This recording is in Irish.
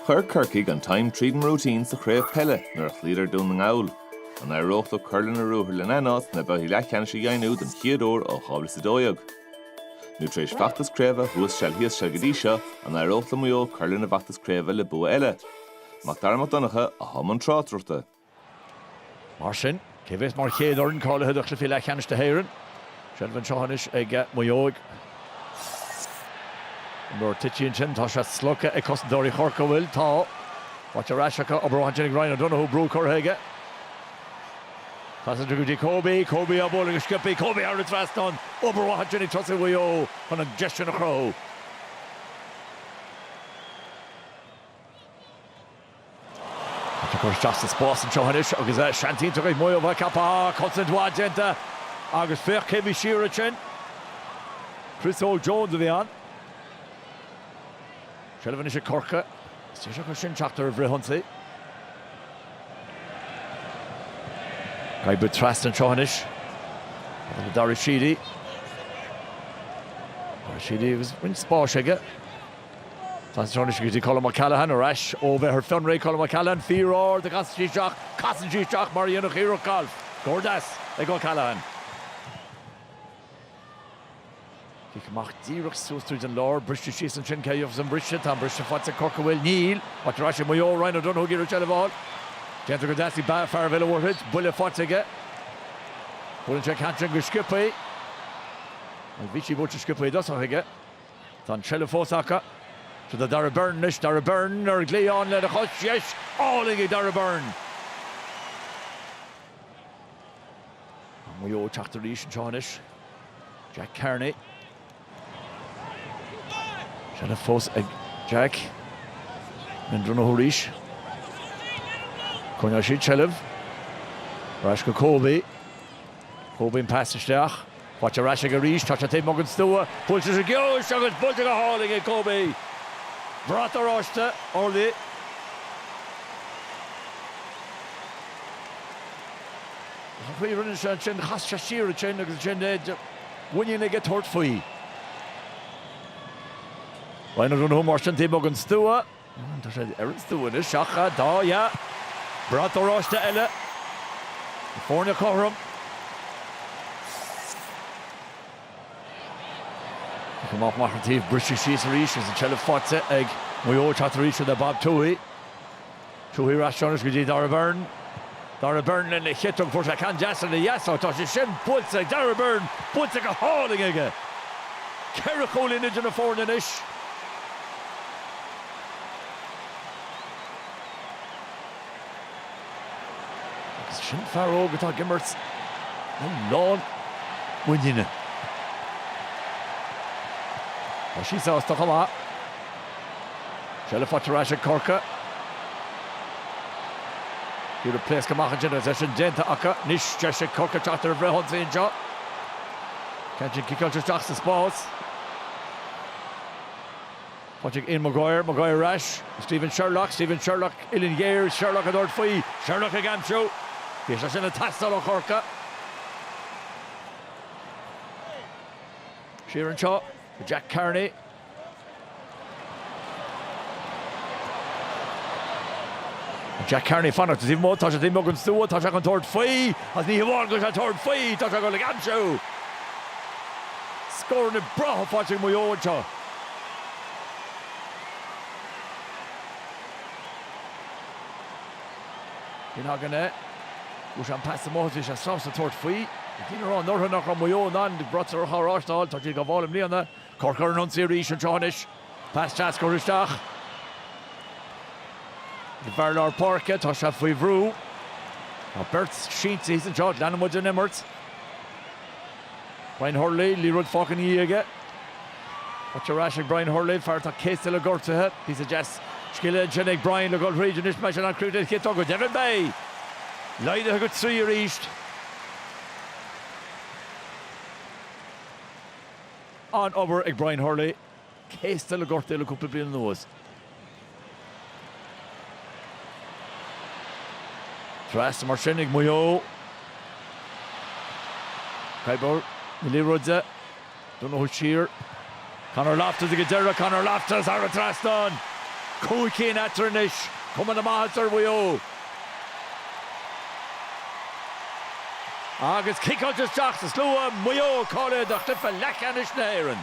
Chuir Corcaigh an tine tríd an routine sa chraobh peile nuair a chloíodar Dún na nGall. An éireodh leo cur lena ruathair lena n-áit sna babhtaí leathcheannais a dheimhniú don chéad uair ó dhá mhíle is a dó dhéag? Nó tar éis feachtas craoibhe thuas seal thíos seal go dtí seo an éireodh le Maigh Eo cur lena bhfeachtas craoibhe le bua eile? Mac Dara Mac Donncha i mbun na tráchtaireachta. Mar sin, cé a bheas mar chéad fhoireann cáilithe do Chluichí Leathcheannais na hÉireann? Seilbh anseo anois ag Maigh Eo. Nuair a thiteann sin, tá sé slogtha ag cosantóirí Chorcaí. Faighte ar ais acu. Obair mhaith ansin ag Ryan O'Donoghue. Brú curtha aige. Passann sé go dtí Kobe. Kobe á bhualadh go sciobtha. Kobe thar an trasnán. Obair mhaith ansin ag tosaithe Mhaigh Eo chun an deis sin a chruthú. Tá cur isteach sa spás anseo anois agus seans iontach ag Maigh Eo bheith ceaptha. Cosaint mhaith déanta agus féach cé a bhí siar ansin. Chris Óg Jones a bhí ann. Seilbh anois ag Corcaigh. Is deis acusan teacht ar an bhfrithionsaí. Caite trasna anseo anois. Tá le Dara Sheedy. Dara Sheedy agus roinnt spáis aige. Casann sé ar ais go dtí Colm O'Callaghan, ar ais ó bheith ar fionraí. Colm O'Callaghan, fíor-ard a chasann sí isteach. Casann sí isteach mar a dhéanfadh iarracht gailf. Scór deas ag O'Callaghan. Cic amach díreach suas tríd an lár. Briste síos ansin. Cé a gheofas an brise? Tá an brise faighte ag Corcaigh. Níl. Faighte ar ais ag Maigh Eo. Ryan O'Donoghue ag iarraidh seilbh a fháil. Déanta go deas ag fear Bhéal an Mhuirthead. Buille faighte aige. Buaileann sé ceann sin go sciobtha. Bhí sí buailte sciobtha i dtosach aige. Tá an tseilbh fós acu. Seo é Darragh Beirne anois. Darragh Beirne ar chlé, ann lena chos dheis! Álainn ag Darragh Beirne! Tá Maigh Eo ag teacht arís anseo anois. Jack Carney. Seilbh fós ag Jack. Mendrino arís. Coinneoidh siad seilbh. Ar ais go Kobe. Kobe an pas isteach. Faighte ar ais aige arís, tá sé taobh amuigh den stua, buaileann sé go ciúin agus buailte go hálainn ag Kobe. Brat oráiste, orlaí. An chaoi a rinne sé ansin, chas sé siar ansin agus an mhuinín aige tabhairt faoi. Buille mar sin taobh amuigh den stua. Tá sé ar an stua anois ach dá fheá. Brat oráiste eile. Na foirne cothrom. Cic amach amach an taobh, briste síos arís agus an tseilbh faighte ag Maigh Eo. Teacht arís iad le Bob Tuohy. Tuohy ar ais anois go dtí Darragh Beirne. Dara Byrne lena chiotóg fuair sé ceann deas lena dheasóg. Tá sé sin buailte ag Dara Byrne, buailte go hálainn aige. Ceithre chúilín idir na foirne anois. Agus sin fear óg atá ag imirt lán muiníne. Tá sé sásta chomh maith. Seilbh faighte ar ais ag Corcaigh. Iarraidh pléascadh amach ansin agus é sin déanta acu. Anois deis ag Corcaigh teacht ar an bhfrithionsaí anseo. An ceann sin ciceáilte isteach sa spás. Pas chuig Ian Maguire, Maguire ar ais. Stephen Sherlock, Stephen Sherlock uillinn ghéar, Sherlock ag tabhairt faoi, Sherlock ag aimsiú. Bhí sé sin ag teastáil ó Chorcaigh. Siar anseo, Jack Carney. Jack Carney ag fanacht taobh amuigh, tá sé taobh amuigh den stua, tá sé chun tabhairt faoi agus ní hamháin go bhfuil sé ag tabhairt faoi, tá sé ag dul ag aimsiú! Scór na brataí faighte ag Maigh Eo anseo. Sin againn é. Fuair sé an pas amuigh agus bhí sé sásta tabhairt faoi. Bhí daoine ag rá anuraidh nach raibh Maigh Eo in ann bratacha a thabhairt ar Ard Mhacha Thoir, tá siad á bhfáil i mbliana. Corcaigh ar an ionsaí arís anseo anois. Pas deas curtha isteach. Ag fear lár páirce, tá sé faoi bhrú. Tá beirt sínte thíos anseo, leanann muid an imirt. Brian Hurley, liathróid fágtha ina dhiaidh aige. Tá sé ar ais ag Brian Hurley, fear atá céasta le gortuithe. Píosa deas scile ansin ag Brian le dhul thríd anois más é an críoch a bheidh aige. An bhearna? Laghdaithe go trí arís. An-obair ag Brian Hurley, céasta le gortuithe le cúpla bliain anuas. Trasna mar sin ag Maigh Eo. Ag coimeád na liathróide don fhotha siar. Conor Loftus ag an deireadh, Conor Loftus thar an trasnán! Cúig cinn eatarthu anois, cuma na maitheasa ar Mhaigh Eo. Agus ciceáilte isteach sa slua, Maigh Eo ag cáiliú do chluiche leathcheannais na hÉireann.